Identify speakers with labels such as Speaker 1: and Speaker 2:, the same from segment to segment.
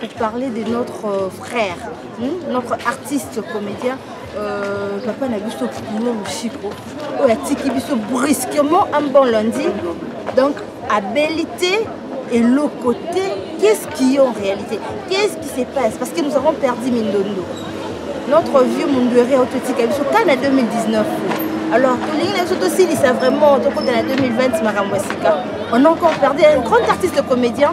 Speaker 1: pour parler de notre euh, frère, hmm, notre artiste comédien, euh, papa na biso Bruno Mushiko, oyo atiki biso brusquement un bon lundi. Donc, abelité et le côté, qu'est-ce qui est en réalité Qu'est-ce qui se passe Parce que nous avons perdu Mindondo. Notre vieux Munduere Ototika biso quand en 2019. Alors, tolingi na biso tosilisa vraiment tokota na 2020 makambo ya sika. On a encore perdu un grand artiste comédien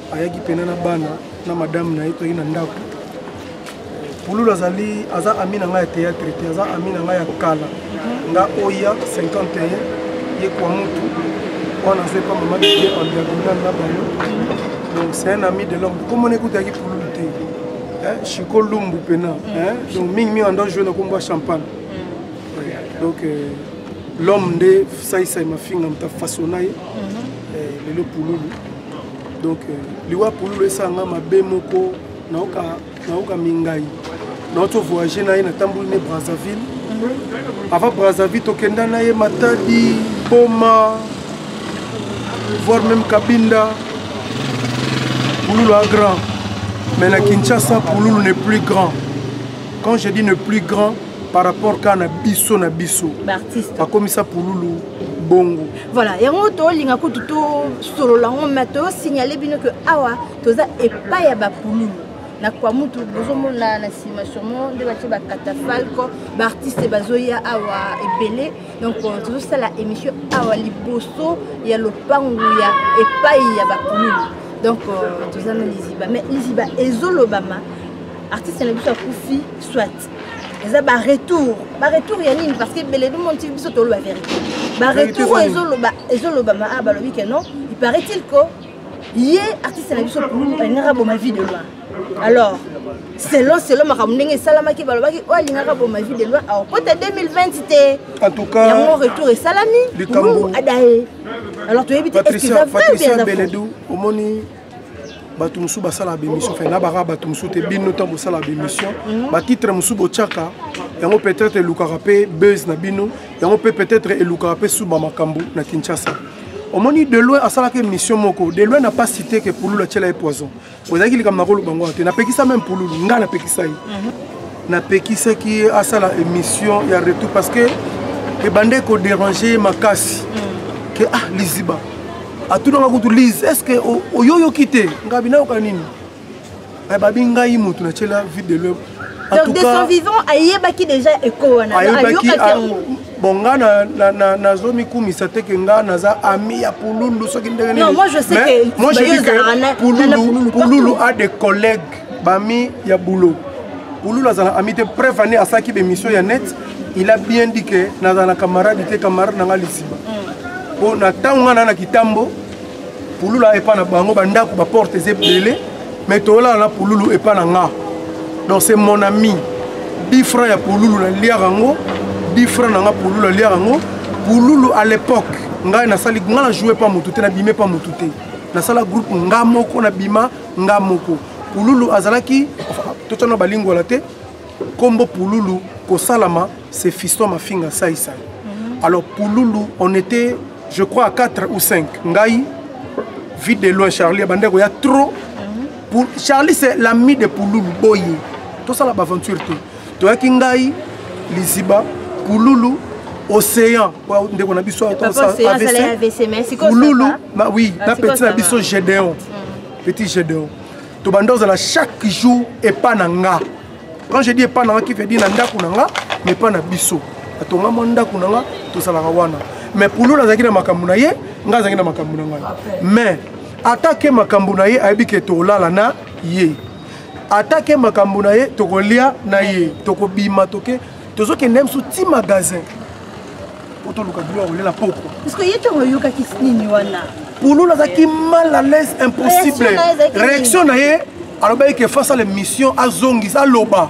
Speaker 2: ayaki mpena na bana na madame na ye toyaki na ndako pululu azali aza ami na ngai ya théâtre te aza ami na ngai ya kala nga oya 51 ye kwa mutu wana aza epa mama bie en diagonal na bango donc c'est un ami de l'homme komona ekutaki pululu te chiko lumbu mpena donc mingi mingi ando joue na kombo ya champagne donc euh, l'homme nde saisai mafinga moto afasona ye mhm. euh, lelo pululu donc euh, liwa pululu esanga mabe moko naoka naoka mingai naoto voyage na ye natamboli ne brazzaville mhm. avant brazzaville tokenda na ye matadi boma voir même kabinda pululu a grand mais na kinshasa pululu ne plus grand quand je dis ne plus grand par rapport kaka na biso na biso bakomisa pululu bongo voilà yango
Speaker 1: tolinga kutu tosolola yango ma tosignale bino ke awa toza epai ya bapululu na kwa mutu bozomona na nsima sûrement nde batie bakatafalco baartiste bazoya awa ebele donc euh, tozosala émission awa liboso ya lopangu ya epai ya bapululu donc euh, toza na liziba mais liziba ezolobama artiste na biso akufi soit eza baretour baretour ya nini parce que beledi monti biso toloba vérité baretour oyo ezoloba ezolobama a ah, balobi ke non il paraît il que ye artiste na biso alingaka boma vie de loi alors selon selon makambo ndenge esalamaki balobaki oyo alingaka boma vie de loi akota 2020 te yango
Speaker 2: retour esalami
Speaker 1: adaye alors toyebi te eskiza vrai
Speaker 2: omoni bato mosusu basalaka bémission fe nabaka bato mosusu te bino ntango bosalaka bémission mhm. batitre mosusu botyaka yango peut-être elukaka mpe buzz na bino yango mpe peut-être elukaka mpe suba makambo na kinshasa omoni deloin asalaka émission moko deloin na pas cité ke pululu atyela ye poison ozalaki likambo na koloba ngo te napekisa meme pululu ngai napekisa ye mhm. napekisaki ye asala émission ya retour parce que ebandaki koderange ye makasi mhm. ke ah liziba atunaka kutu lise est ce que oyoyoki te ngabi nayoka nini eh, babi ngai motu natyela vide de l'homme donc de son vivant ayebaki
Speaker 1: déjà eko wana ayokaki ah, yango
Speaker 2: bon nga nazomikumisa te ke nga naza ami ya pululu soki ndenge nini
Speaker 1: moi je dis que
Speaker 2: pululu, pululu a des collègues bami ya boulot pululu azala ami te preuve ane asalaki bemission ya net il a bien dit que nazala na camarade te camarade na nga lisima mpo na ntango nga na na kitambo pulula epa na bango bandako baporte eza ebele mais toyolana na pululu epa na nga donc c'est mon ami 10 franc ya pululu naliaka yango 10 franc na nga pululu aliaka yango pululu à l'époque ngai nasali ngai na joue pa motu te nabime pa motu te nasala groupe nga moko nabima nga moko pululu azalaki totana balingwala te Kombo Pululu kosalama c'est Fiston Mafinga Sai Sai. Mhm. Alors Pululu on était je crois à 4 ou 5 ngai vite de loin Charlie bandeko ya trop mhm. pour Charlie c'est l'ami de Pululu boye. Tout ça la aventure tout. Toi qui ngai Liziba Pululu océan ndeko na biso avc pululu oui na petit na biso gédéon petit gédéon tobanda ozala chaque jour epa na nga quand je dis epa na nga qui veut dire na ndako na nga mais epa na biso atonga mwa ndako na nga tozalaka wana mais pululu azalaki na makambo na ye ngai azalaki na makambo na ngai mais atake makambo na ye ayebi ke tolala na ye atake makambo na ye tokolia na ye tokobima toke tozokende biso ti magasin po toluka bilo ya kolela pokwa parceke ye ntango
Speaker 1: oyokaki nini wana pululu azalaki
Speaker 2: mal à l'aise impossible réaction na ye alobaki ke face à l'émission azongisa aloba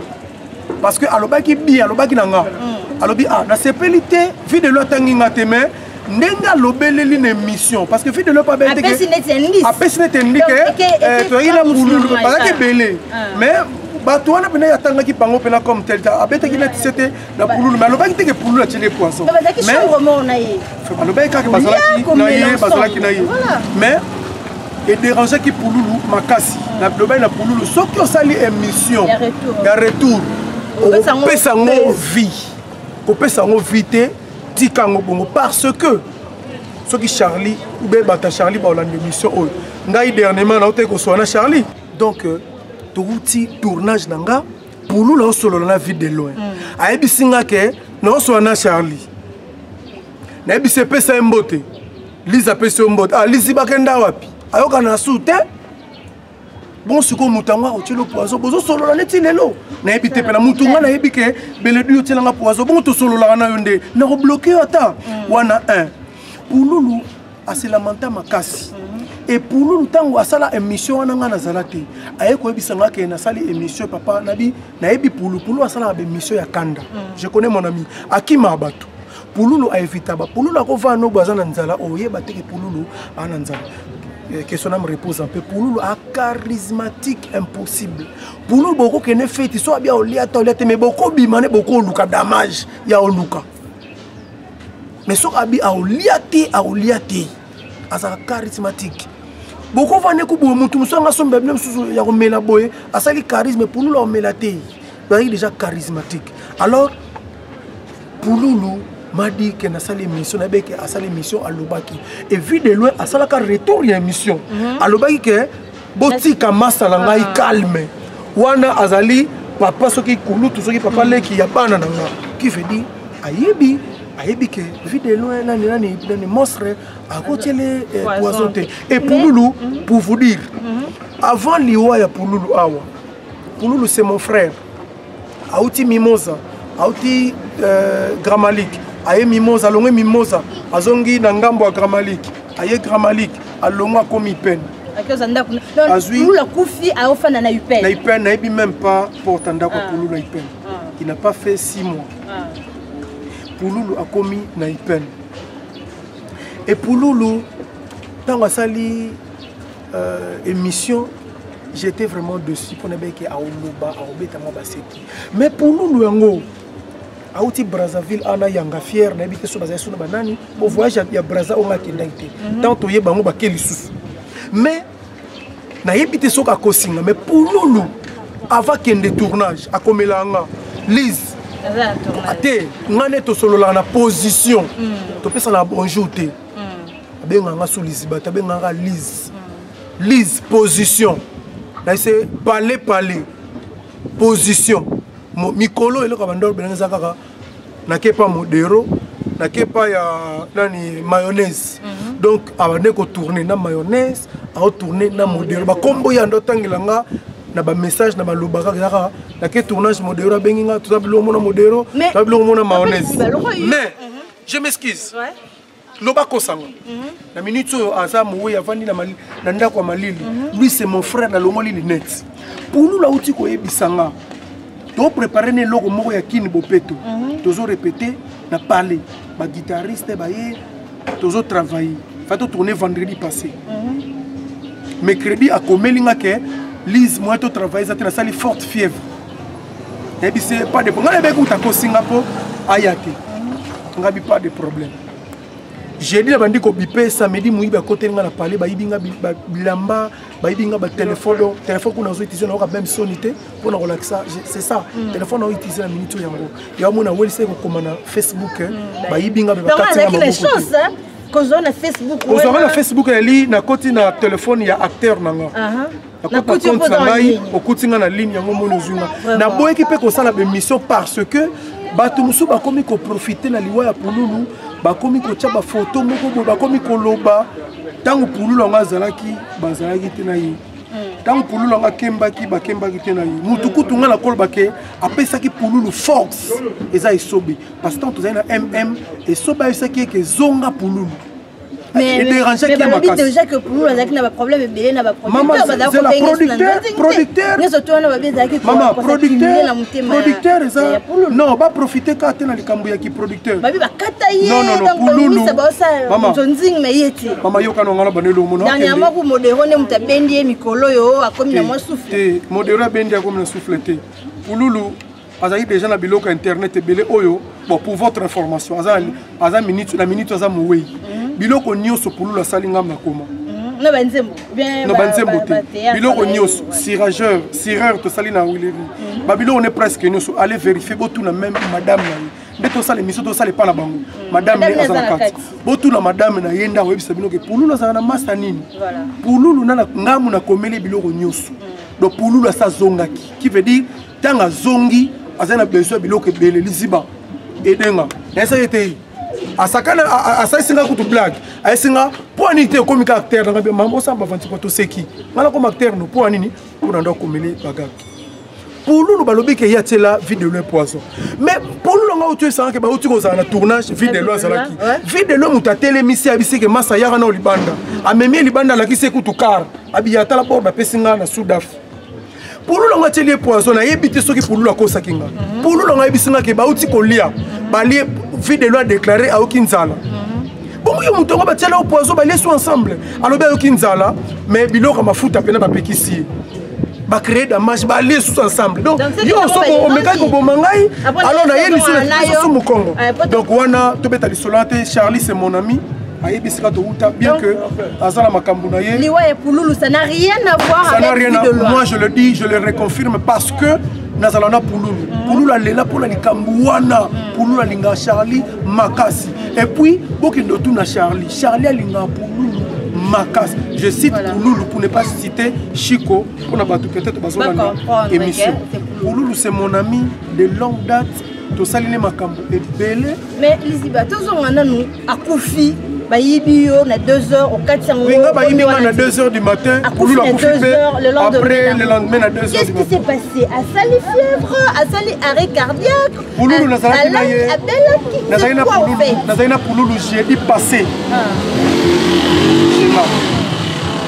Speaker 2: parce que alobaki bi alobaki na nga mm. alobi ah nasepeli te vie de lo atangi nga te mais ndenge alobeleli na émission parce que fidele oyo apesi neti endike toyaki na ngululu bazalaki ebele mais bato wana mpena atangaki bango mpena comme tel ta abetaki neti se te na pululu mais alobaki teke pululu atyeli ye poison
Speaker 1: balobaki kaka bazalaki
Speaker 2: na ye bazalaki na ye mais ederangeaki pululu makasi nalobaki na pululu soki osali émission ya retour opesa yango vie kopesa yango vie te tika yango bongo parce que soki charlie ube bata charlie baolanda émission oyo ngai dernièrement nautaki kosola na charlie donc euh, touti tournage na nga pulu naosolola na vide de loin mm. ayebisi nga ke naosola na charlie nayebisi epesa ye mbote liza apesi yo mbote ah, lizi bakenda wapi ayokana na su te bon sikoyo moto yango akotyelo poison bozosolola neti lelo nayebi te mpe na motu ngai nayebi ke beledu yo tyelanga poison bongo tosololaka na yo nde nakobloke yo ata mm. wana 1 pululu aselamanta makasi mm-hmm. epululu ntango asala émission wana ngai nazala te aye koyebisa ngai ke nasali émission papa nabi nayebi pulupulu asalaka baémission ya kanda mm. je connais mon ami akima bato pululu aevita bapululu akovaa nobo aza na nzala oyeba te ke pululu aa na nzala eh, question na me repose un peu pululu a charismatique impossible pululu bokokende feti so abia olia ata olia te mais bokobima ne bokoluka damage ya oluka mais soki abi aolia te aolia te azalaka charismatique bokovanda ekuboye motu mosusu anga somba bino mosusu ya komela boye asali charisme pululu aomela te nazalaki déjà charismatique alors pululu madi ke nasali émission nayebi ke asali émission alobaki et vu de loin asalaka retour ya émission mhm. alobaki ke botika masa na ngai ah. calme wana azali papa soki kulutu soki papa mhm. leki ya bana na nga qui veut dire ayebi ayebi ke vu de loin nani nani nani monstre akotiele eh, poison te et pululu mhm. pour vous dire avant liwa ya pululu awa Pululu c'est mon frère. Auti Mimosa, auti euh, Gramalik, aye Mimosa, alongwe Mimosa, azongi na ngambo ya Gramalik, aye Gramalik, alongwe akomi Ipene. akoza ndako
Speaker 1: pululu akufi aofanda na upene na upene nayebi même
Speaker 2: pas porte ya ndako ya ah. pululu na upene ah. il n'a pas fait six mois ah. pululu akomi na upene epululu ntango asali euh, émission j'étais vraiment dessus mpo nabeke aoloba aobeta mwa baseki mais pululu yango auti brazzaville ana yanga fiere nayebi te so bazali sona banani bo voyage ya braza oyo ngakendaki te mhm. tant toye bango bake lisusu mais nayebi te soki akosinga mais pululu avant kende tournage akomelaa nga lise te nga nde tosololaka na position mm. topesana bonjour te hmm. abengaka nga solisi bato abengaka nga lise hmm. lise position naise pale pale position mikolo eloko ya bandolo belanga eza kaka nakepa modero nakepa ya nani mayonnaise mm. donc abande kotourne na mayonnaise aotourne na modelo bakombo ya ndo otangela nga na bamessage na baloba kaka yaka nake tournage modero abengi nga toza biloko mona modero toza biloko mona mayonnaise mais je m'excuse ouais. loba kosango mm -hmm. na minute oyo aza moweyi avandi na, mali, na ndako ya malili mm -hmm. lui c'est mon frère nalongoli linete pululu auti koyebisa nga toprépare na eloko moko ya kini bopeto mm -hmm. tozo repete na pale baguitariste baye tozo travaille fa totourne vendredi passé mm -hmm. mercredi akomeli nga ke lise moyen totravaille eza te nasali forte fièvre nayebi se pas de nga nayebaki kuta kosinga mpo aya te nga bi pas de problème jeudi nabandi kobipe samedi moyibi akoteli nga na pale bayibi nga bilamba bayibi nga batelefone telefone kuna nazo utilize nayoka meme soni te mpo na kolakisa c'est ça mm. telefone nao utilize na minute oyo yango yamona welisa ekokoma na facebook eh. mm, bayibi nga
Speaker 1: kozwaka na facebook
Speaker 2: ezali nakoti na telefone ya acteur na nga nakuti yo kozala ngai okuti ngai na ligne yango moni ozwi ngai naboyaki mpe kosala bemission parce que bato mosusu bakomi koprofite na liwa ya pululu bakomi kotya bafoto moko boye bakomi koloba ntango pululu yango azalaki bazalaki te na ye ntango hmm. pululu yango akembaki bakembaki te na ye motu kutu ngai nakoloba ke apesaki pululu force eza esobe parce que ntango tozali na mm esobe ayebisaki ye ke ezonga pululu
Speaker 1: ederange ke makasideja ke pulu azalaki na baproblème ebele na baproducteurproducteur
Speaker 2: eza non baprofite kaka te na likambo ya kiproducteurbabi bakata yeonzing na ye te mama yokana ngana bana elongo dernièrement ku modero
Speaker 1: nde moto abendi ye mikolo oyo akomi na mwa souffle modero abendi akomi na
Speaker 2: souffle te pululu azalaki déjà na biloko ya internet ebele oyo bon pour votre information aza, aza minute, na minute aza mowei mhm. biloko nyonso pululu asali ngambo na koma mhm. na
Speaker 1: banzembo na banzembo te
Speaker 2: biloko nyonso sirageur sireur tosali na wileri mhm. babiloko ne presque nyonso allez vérifier botuna même madame na ye nde tosala émission tosala epa na bango madame nde aza na kati botuna madame na ye nde akoyebisa bino ke pululu azala na masa nini pululu na ngambo nakomeli biloko nyonso donc pululu asi azongaki qui veut dire ntango azongi azali na besoin ya biloko ebele liziba edenga nayesa ye te asakana asalisi ngai kutu blague ayesi nga mpo anini te okomi ka acteur nanga mama osala bavanti mpo toseki ngai nakoma acteur no mpo anini mpo na ndo akomeli bagaki pululu balobi ke ye atyela vie de loi poison mais pululu anga oyo toyesangake bauti kozala na tournage vie de loi azalaki vie de loi moto atelemisi abisi ke masa yaka nao libanda amemi ye libanda alakisi ye kutu kar abiya atala bord bapesi ngai na sudaf pululu yango atyeli ye poison nayebi te soki pululu akosaki nga pululu yango ayebisi nga ke bauti kolia balie vie de loi adéclare ayoki nzala bongo yo moto yango batyela yo poison balie so ensemble alobi ayoki nzala mais biloko ya mafuta mpena bapekisi ye bacree damage balie susu ensemble donc yo soko omekaki koboma ngai alors naye lisusu mokongo donc wana tobeta lisolo wana te charlie c'est mon ami ayebi esika touta bien que aza na makambo na ye liwa ya pululu ça n'a
Speaker 1: rien à voir ça n'a rien à moi je le dis
Speaker 2: je le reconfirme parce que nazala na pululu mm. pululu alela mpo na likambo wana mm. pululu alingaka charlie makasi et puis bokende otuna charlie charlie alingaka pululu makasi je cite voilà. pululu pour ne pas citer chico mpo na bato peut-être bazolanda émission pululu c'est mon ami de longue date tosali ne makambo ebele mais liziba
Speaker 1: tozonga nanu akufi bayibi yo na 2 heures okati yango nga bayibi nga na 2
Speaker 2: heures du matin akufi na 2 heures le lendemain le lendemain na 2 heures qu'est-ce qui s'est passé
Speaker 1: asali fièvre asali arrêt cardiaque pululu nazalaki
Speaker 2: na ye nazalaki na pululu nazalaki na pululu jeudi passé jema ah.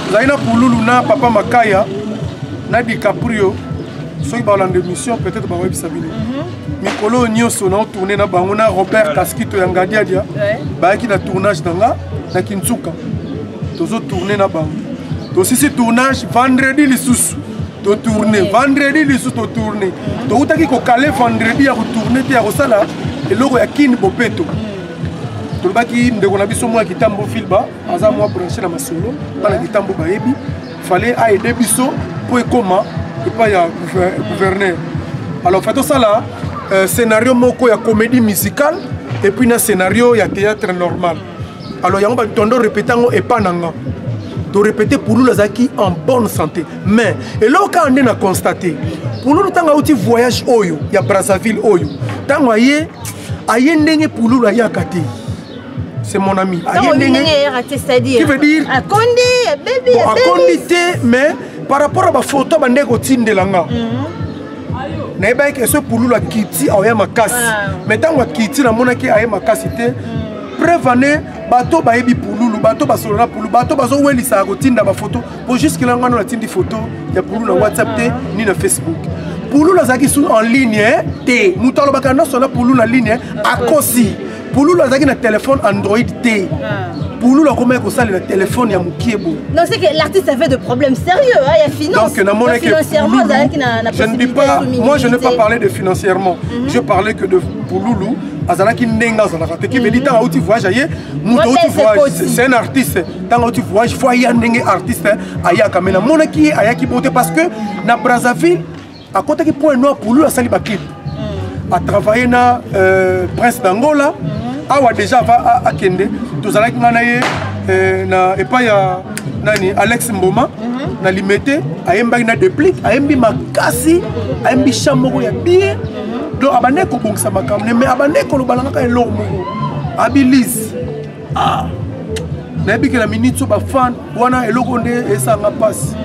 Speaker 2: nazalaki na pululu na papa makaya na dicaprio soki balanda émission peut-être bakoyebisa bino mhm. mikolo oyo nyonso nao tourne na bango na robert kaskito ya ngadiadia bayaki na tournage na nga na kinsuka tozo tourne na bango tosisi tournage vendredi lisusu totourne vendredi lisusu totourne toutaki kokale vendredi ya kotourne te ya kosala eloko ya kini bopeto tolobaki ndeko na biso mwa kitambo filba aza mwa branche na masolo bana kitambo bayebi fale aide biso mpo ekoma epai ya gouverneur alors fa tosala euh, scénario moko ya comédie musicale epuis na scénario ya théâtre normal alors yango bato tondo repete yango epa na nga torepete pululu azalaki en bonne santé mais eloko kaka nde na constate pululu ntango auti voyage oyo ya brazzaville oyo ntango aye aye ndenge pululu ayaka te c'est mon ami aye ndenge qui veut dire
Speaker 1: akondi
Speaker 2: abebi
Speaker 1: bon, akondi te
Speaker 2: mais par rapport à baphoto bande kotindela nga mhm. nayebaki ke so pululu akiti aoya makasi ah. mais ntango akiti namonaki aye makasi te mhm. preuve ane bato bayebi pululu bato basolo na pululu bato bazowelisaka kotinda bafoto po juske la ngano natindi foto ya pululu na whatsapp te ah. ni na facebook pululu azalaki su en ligne te moto alobaka nyonso na pululu na ligne akosi pululu azalaki na telefone android te ah. pululu akomaki kosalela telefone ya mokie boye non c'est que l'artiste
Speaker 1: avait de problèmes sérieux hein, ya finance donc namonaki financièrement azalaki
Speaker 2: na,
Speaker 1: na je ne dis
Speaker 2: pas moi je n'ai pas parlé de financièrement mm -hmm. je parlais que de pululu azalaki ndenge azalaka te kibedi mhm. ntango auti voyage aye moto auti voyage c'est un artiste ntango auti voyage fo aya ndenge artiste ayaka me namonaki ye ayaki bote parce que na brazzaville akotaki point noir pour lui asali baclip mm. atravaille na euh, prince d'angola mm-hmm. awa déjà ava akende tozalaki ngai na ye euh, na epai ya nani alex mboma mm-hmm. na limete ayembaki na deplic ayembi makasi ayembi cha moko ya bien mm-hmm. donc abandaki kobongisa makambo ne mais abandaki koloba na kaka eloko moko abilise ah. nayebi ke na minute so bafan wana eloko nde esanga mpasi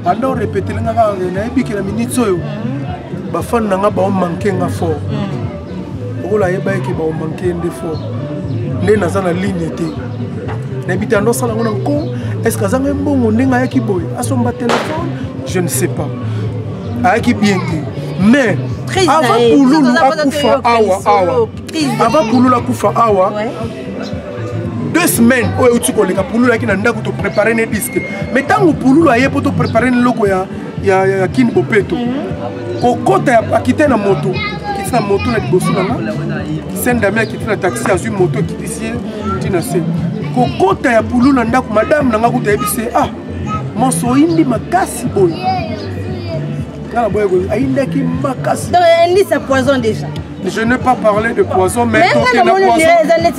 Speaker 2: anda orepetele nga kaka nayebi ke na minute oyo bafan na nga baomanke nga fort lokola ayebaki ke baomanke nde fort nde naza na ligne te nayebi te anda osala ngo na nko estce azanga ye mbongo ndenge ayaki boye asomba telefone je ne sais pas ayaki bien te mais avant pululu akufa awa awa avant pululu akufa awa deux semaines oyo euti koleka pululu ayaki na ndako toprépare ne disque mais ntango pululu aye mpo toprépare ne eloko ya, ya, ya, ya kini bopeto mhm. kokota ya akite na moto akiti na moto na liboso na nga sen dame akiti na taxi azwi moto ekitisi ye ti na se kokota ya pululu na ndako madame na nga kuta ayebisi ye ah monso oyindi makasi boye nga na boye
Speaker 1: ayindaki makasi donc elisa poison déjà Je n'ai pas parlé
Speaker 2: de poison, mais toke na poison,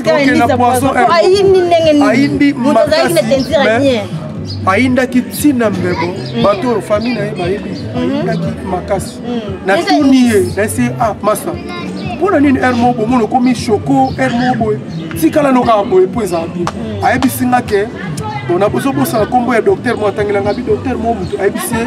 Speaker 1: toke na poison, ayindi makasi, mais ayindaki ntina mbebo mm. bato oyo famille na ye bayebi mm-hmm. ayindaki makasi mm. natuni ye nayesi ye ah masa mpo na nini heure moko bomona okomi shoko heure moko boye tikala no kaka boye mpo ezala bien mm. ayebisi nga ke bona bozobosana nkombo ya docteur mo atangelanga bi docteur mo motu ayebisi ye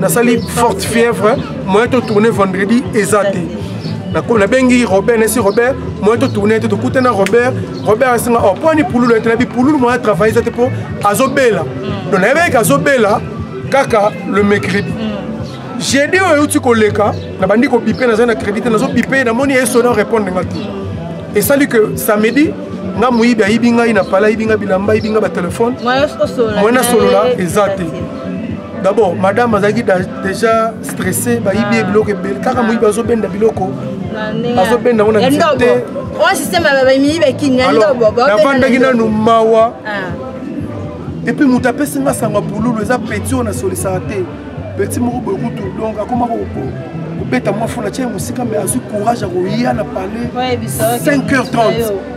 Speaker 1: nasali forte fièvre moyen totourne vendredi eza te nabengi robert nesi robert moyen totourne te tokute na robert robert asenga o oh, mpo ani pululu ete nabi pululu moyen atravaille eza te mpo azobela mm. donc nayebi eke azobela kaka le mercredi mm. jeudi oyo euti koleka nabandi kobipe nazali na crédit te nazobipe namoni esona orépondre nga te esali que samedi nga moyibi ayibi ngai na pala ayibi nga bilamba ayibi nga batelefone moyen nasolola eza te d'abord madame azalaki déjà stressé bayibi ye ah. biloko ebele kaka moyibi azobenda biloko azobenda yango na nzete navandaki nanu
Speaker 2: mawa ah. epuis moto apesi nga sango ya pululu eza peti oyo nasolisaka te peti moko boye kutu donc akoma kobeta mwa fona tya ye mosika me azwi courage ya koya na palais 5 heures 30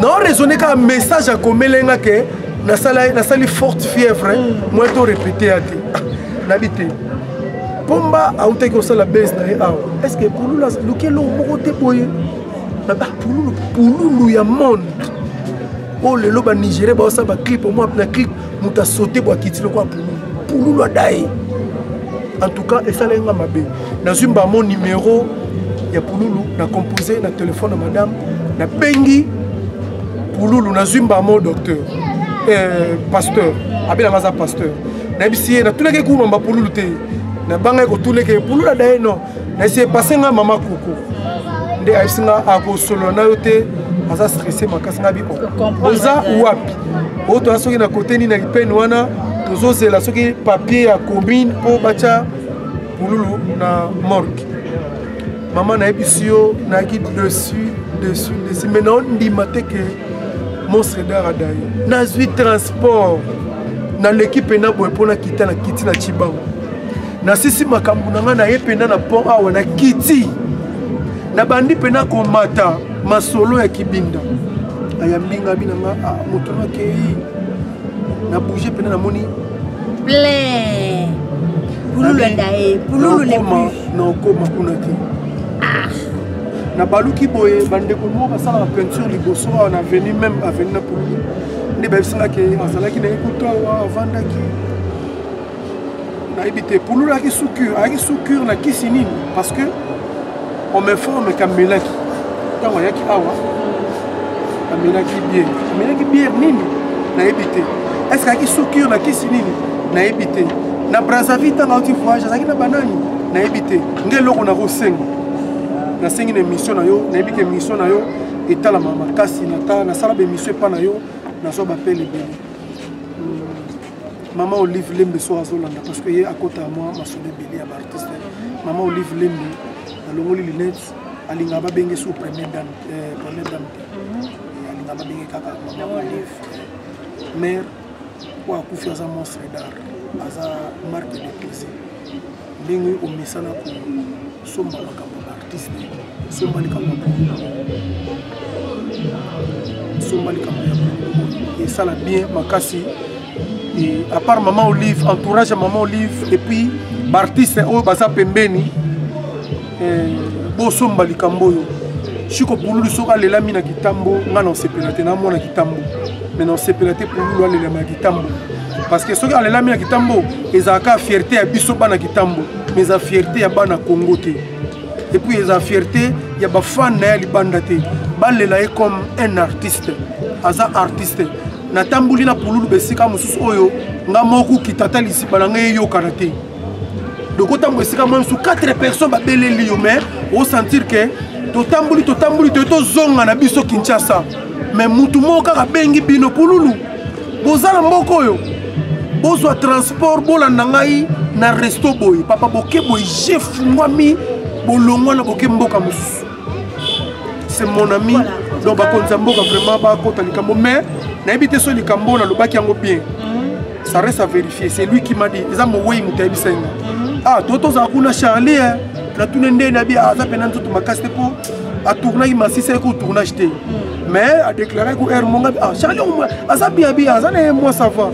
Speaker 2: nao raisonne kaka message akomele nga ke nasali forte fièvre moi to répété ya te ah, nabi te pomba autaki kosala base na ye awa est ce que pululu aluki eloko moko te boye naba pululu pululu ya monde oyo oh, lelo banigérien baosala baclip omwa na clip moto asote bwa kiti lokola pululu pululu adaye en tout cas esalaki nga mabe nazwi mbamo numero ya pululu na compose na telefone ya madame nabengi pululu nazwi mbamo docteur eh, pasteur abelanga aza pasteur nayebisi ye natunaki kuna mba pululu te nabangaki kotuna eke pululu adaye non na se pase ngai mama koko nde ayebisi ngai akosolola na yo te aza stresse makasi ngai biko oza wapi oyo toya soki na kote nini na lipene wana tozozela soki papier ya commune mpo batya pululu na morgue mama nayebisi yo nayaki dessus dessus dessus mai naondima te ke monstre dar adaye nazwi transport naleki mpe na boye mpo nakita na kiti na cibango nasisi makambo na ngai naye mpena na pont awa na kiti nabandi mpena komata masolo ya kibinda ayambi ngai abi na ngai ah, moto nakei na bouge mpena namoni plein
Speaker 1: pululu enda ye pululu lekoma na okoma
Speaker 2: kuna te ah. nabaluki boye bandeko moko basalaka peinture liboso awa na aveni meme aveni na pululu nde bayebisaka ke azalaki na ye kutu awa avandaki nayebi te pululu ayaki soukure ayaki soukure na kisi nini parce que on m'informe kamelaki ntango ayaki awa amelaki biere amelaki biere nini nayebi te est ce ayaki soukure na kisi nini nayebi te na brazzaville ntango auti voyage azalaki na banani nayebi te nde eloko nakosenga nasengi na émission na yo nayebi ke émission na yo etalama makasi nasala baémission epa na yo nazwa bapele ebele mama olive lembe soki azolanda parce que ye akota ya mwa masolo ebele ya baartiste mama olive lembe nalongoli lunette alingaka babenge su première dame euh, première dame te mhm. alingaka babenge kaka mama olive mare oyo akufi aza monstre d'art aza marque de plaisir ndenge omesana kosomba makambo ya artiste somba likambo ya kongo somba likambo ya kongo esala bien makasi et à part maman olive entourage ya maman olive et puis baartiste oyo baza pembeni eh, bosomba likambo oyo shiko pululu soki alelami na kitambo ngai na osepela te namona kitambo me na osepela te pululu alelama na kitambo parce que soki alelami na kitambo ezalaka fierté ya biso bana kitambo mais eza fierté ya bana congo te epuis eza fierté ya bafane na ye ya libanda te balela ye comme un artiste aza artiste natamboli na pululu besika mosusu oyo nga moko kitata lisipa na ngai eyokana te donc otambola esika mwa mosusu 4 personnes babeleli yo mais osentir ke totamboli totamboli toye tozonga na biso kinshasa mais mutu moko kaka abengi bino pululu boza na mboka oyo bozwa transport bolanda ngai na resto boye papa boke boye je fungwami bolongwa na boke mboka mosusu c'est mon ami voilà. donc bakonzi ya mboka vraiment bakota likambo mais nayebi te so likambo oyo nalobaki yango bien mhm. ça reste à vérifier c'est lui qui m'a dit eza mowei moto ayebisa yango mhm. ah to tozala kuna charlie natuna nde nabi aza mpena nzoto makasi te mpo atournaki masisa ye ko tournage te mhm. mais a déclaré ko air monga ah charlie aza bien bien aza na moi ça va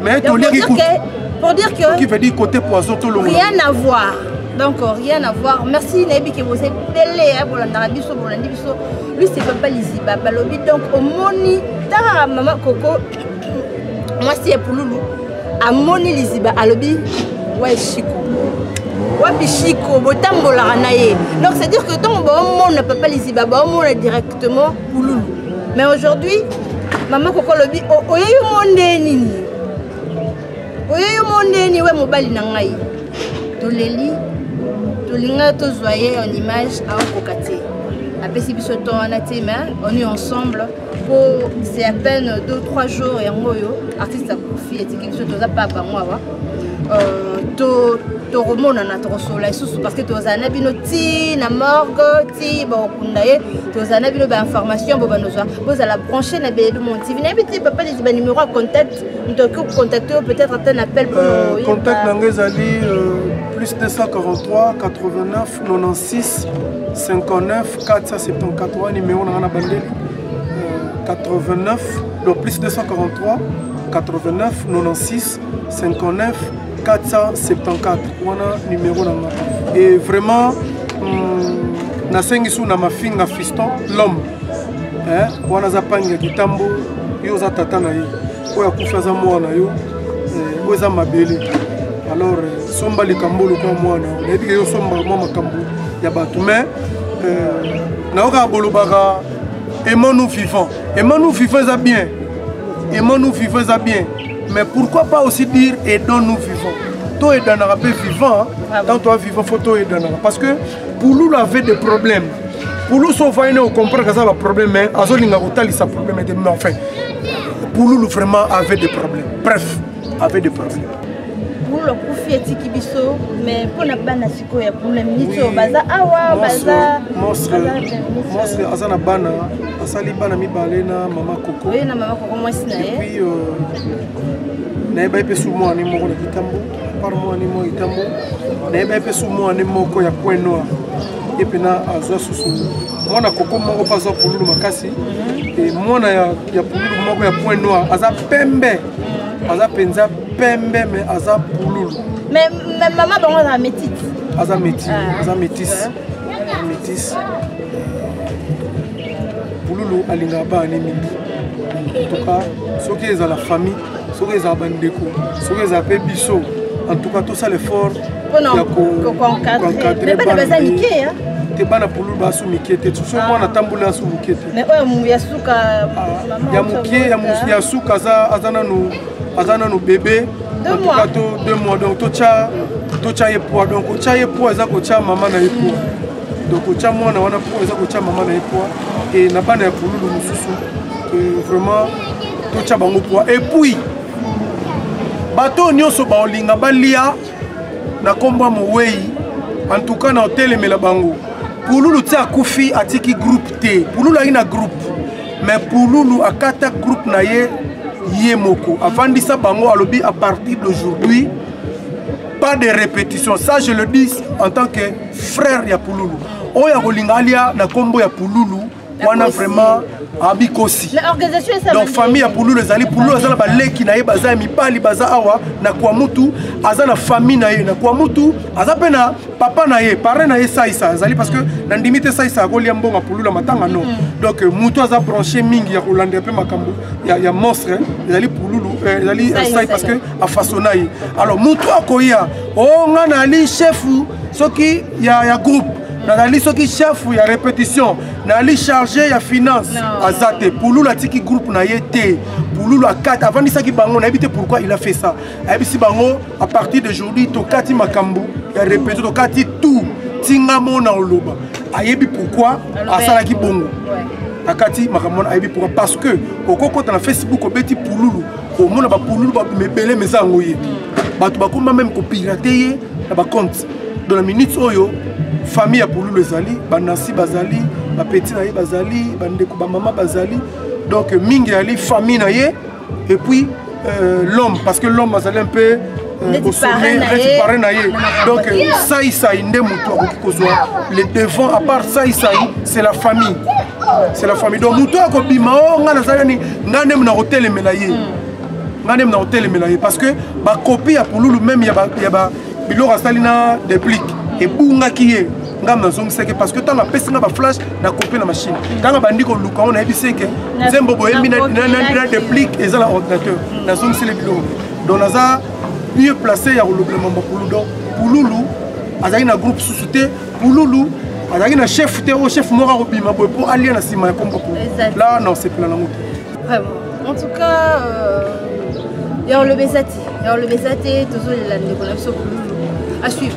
Speaker 2: mais to leki ko pour dire que
Speaker 1: qui veut dire côté poison
Speaker 2: to longo rien à voir
Speaker 1: donc euh, rien à voir merci nayebi ke boza ebele ya bolandaka biso bolandi biso luse papa liziba balobi donc omoni tala mama koko mwasi ya pululu amoni liziba alobi waye shiko wapi shiko botambolaka na ye donc c'est dire que ntango baomona papa liziba baomona direct Justement, Kouloulou. Mais aujourd'hui, maman Koko lobi, oye yo monde nini Oye yo monde nini we mobali na ngai Toleli, tolinga tozwa ye en image aokoka te. Apesi biso temps wana te, mais on est ensemble. C'est à peine 2-3 jours yango oyo artiste akufi etiki biso toza pa bango awa. Euh, to tokomonana tokosolola lisusu parce que tozala na bino ti na morgue ti bakokunda ye tozala na bino bainformation bo banozwa bozala branche na belu mon tv nayebi te papa leki banimero ya contact moto oki kocontacte yo peut-être ata na appel euh, contact na ngai ezali
Speaker 2: euh, plus 243 89 96 59 474 wana nimero na ngai na bandeli 89 donc plus 243 89 96 59 474 wana numero na nga e vraiment mm, nasengi su na mafinga fiston l'homme eh, wana aza pangi ya kitambo yo oza tata na ye oyo akufi aza mwana na yo eh, oyo eza mabele alors eh, somba likambo lokola mwana nayebi ke yo somba mwa makambo ya bato mais eh, nayokaka bolobaka emanu vivant emanu vivant eza bien emanu vivant eza bien mais pourquoi pas aussi dire aidons nous vivons to aidanaka mpe vivant ah tant toi vivant faut to aidanaka parce que pululu avait des problèmes pululu so ovandi ne ocomprendre aza baproblème mais azolinga kotalisa problème ete mais enfin pululu vraiment avait des problèmes bref avait des problèmes pululu akufi etiki
Speaker 1: biso mais mpo na bana ya problème nisi oyo baza awa baza
Speaker 2: monstre aza na bana asali bana mibale na mama koko oye na mama koko mwasi
Speaker 1: na ye epuis
Speaker 2: euh, nayebai mpe su mwana ne moko na kitambo apart mwana ne moko kitambo nayebai mpe su mwana ne moko ya point noir ye mpena azwa susu mwana koko moko mpe azwa pululu makasi mhm. mwana ya pululu moko ya point noir aza pembe aza mpenza pembe mais aza pululu mais
Speaker 1: mama bango aza métis aza métis
Speaker 2: ah. aza métis métis pululu alingaka bana ne mingi en tout cas soki ezala famille soki ezala bandeko soki ezala mpe biso en tout cas tosala effort ya koencadre
Speaker 1: bana te bana pululu
Speaker 2: basu mike te soki ah. mwana atambola asu moke te
Speaker 1: ya
Speaker 2: moke ya suka aza nanu aza nano bebe entuka to deux mois donc totya totya ye poids donc kotya ye poids eza kotya mama na ye poids donc kotya mwana wana poids eza kotya mama na ye poids e na bana ya pululu mosusu vraiment totya bango poids epuis bato oyo nyonso baolinga balia na nkombo ya mowei antuka na otelemela bango pululu ti akufi atiki groupe te pululu ayi na groupe mais pululu akata groupe na ye ye moko avandisa bango alobi à partir d'aujourd'hui pas de répétition ça je le dis en tant que frère ya pululu oyo akolinga alia na nkombo ya pululu wana vraiment abikosi donc famille ya pululu ezali pululu aza na baleki na ye baza ya mibali baza awa na kuamutu aza na famille na ye na kuamutu aza mpe na papa na ye parrain na ye saisa azali parce que na ndimi te saisa akolia mbongo apulula matanga no mm. donc euh, moto aza branche mingi ya kolandela mpe makambo ya, ya monstre ezali pululu euh, ezali euh, sai parce que afasona ye alors moto akoya o oh, nga nali chefu soki ya, ya groupe mm. nazali soki chef ya répétition nali chargé ya finance aza te pululu atiki groupe na ye te pululu akata avandisaki bango nayebi te pourquoi il a fait ça ayebisi bango à partir d'aujourd'hui tokati makambo ya repete tokati tout tinga mona oloba ayebi pourquoi asalaki bongo akati makambo wana ayebi pourquoi parce que okokota na facebook obeti pululu omona bapululu mebele meza yango ye bato bakoma meme kopirate ye na bacompte dans la minute oyo famille ya pululu ezali banasi bazali bapeti na ye bazali bandeko bamama bazali donc mingi yali famille na ye et puis euh, l'homme parce que l'homme azali un peu euh, au sommet neti pare na ye donc euh, sai sai nde motu akoki kozwa le devant à part sai sai c'est la famille c'est la famille donc motu akobima o oh, ngai nazali ni ngai nde mona kotelemela ye hmm. ngai nde mona kotelemela ye parce que bakopi ya pululu meme ya biloko asali na deplique ebungaki ye ngai nazongisaki parce que ntango apesi ngai baflash nakopi na machine ntango abandi koluka yango nayebisi eke nzembo boyembi na deplic eza na ordinateur nazongiseli biloko donc naza mieux placé ya kolobela mambo pulu donc pululu azalaki na groupe susu te pululu azalaki na chef te oyo chef moko akobima boye mpo alia na nsima ya kombo pulu la na osepela nango te Vraiment.
Speaker 1: En tout cas, euh, ya oloba eza te ya oloba eza te tozolela ndeko na biso kululu à suivre